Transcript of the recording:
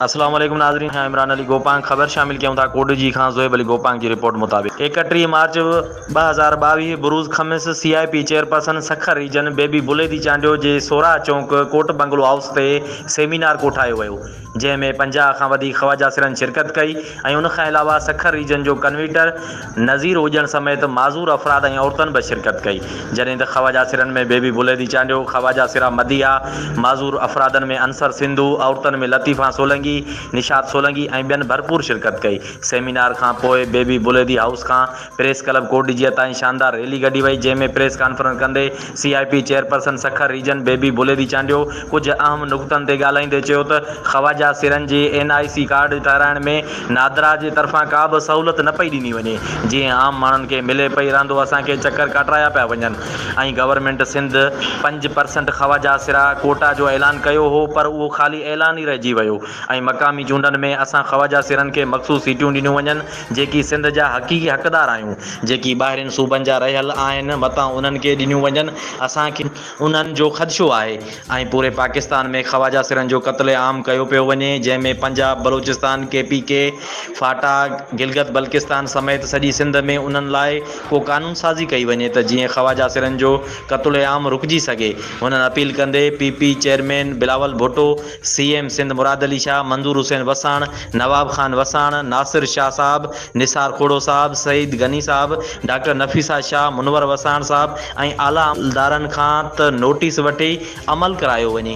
اسلام عليڪم ناظرين آء عمران علي گوپانگ خبر شامل ڪيون ٿا ڪوڏجي کان زويب علي گوپانگ جي رپورٽ مطابق ايڪٽيهه مارچ ٻه هزار ٻاويهه بروز خميس C I P chairperson Sukkur region Bibi Baledi Chandio جي سوراهه چونڪ ڪوٽ بنگلو هائوس تي سيمينار ڪوٺايو ويو جنهن ۾ پنجاهه کان وڌيڪ خواجه سرن شرڪت ڪئي ۽ ان کان علاوه سکر ريجن جو ڪنويٽر نظير هجڻ سميت معذور افراد ۽ عورتن به شرڪت ڪئي جڏهن ته خواجه سرن ۾ بيبي بليدي چانڊيو، خواجه سرا مديحا، معذور افرادن ۾ انصر سنڌو، عورتن ۾ لطيفا سولنگي، نشاط سولنگي ۽ ٻين ڀرپور شرڪت ڪئي. سيمينار کان پوء بيبي بليدي هائوس کان پريس ڪلب ڪوٽ ڊجيء تائين شاندار ريلي ڪڍي وئي، جنهن ۾ پريس ڪانفرنس ڪندي C I P chairperson Sukkur region Bibi Baledi Chandio ڪجهه اهم نقطن تي ڳالهائيندي چيو ته خواجا سرن جي اين آء سي ڪارڊ ٺهرائڻ ۾ نادرا جي طرفان ڪا به سهولت نه پئي ڏني وڃي جيئن عام ماڻهن کي ملي پئي راندو اسان کي چڪر ڪاٽرايا پيا وڃن ۽ گورنمينٽ سنڌ پنج پرسنٽ خواجا سرا ڪوٽا جو اعلان ڪيو هو پر اهو خالي اعلان ئي رهجي ويو ۽ مقامي چونڊن ۾ اسان خواجا سرن کي مخصوص سيٽيون ڏنيون وڃن جيڪي سنڌ جا حقيقي حقدار آهيون، جيڪي ٻاهرين صوبن جا رهيل آهن، متان انهن کي ڏنيون وڃن، اسان کي انهن جو خدشو آهي ۽ پوري پاڪستان ۾ خواجه سرن جو قتل عام ڪيو پيو وڃي، جنهن ۾ Punjab, Balochistan, K P K, FATA, Gilgit Baltistan سميت سڄي سنڌ ۾ انهن لاء ڪو قانون سازي ڪئي وڃي ته جيئن خواجه سرن جو قتل عام رڪجي سگهي، هنن اپيل ڪندي P P chairman Bilawal Bhutto C M Sindh Murad Ali Shah, Manzoor Hussain Wassan, Nawab Khan Wassan, Nasir Shah صاحب، نثار کوڙو صاحب، سعيد غني صاحب، ڊاڪٽر نفيسه شاهه، منور وساڻ صاحب ۽ اعليٰ عملدارن کان ته نوٽيس وٺي عمل ڪرايو وڃي.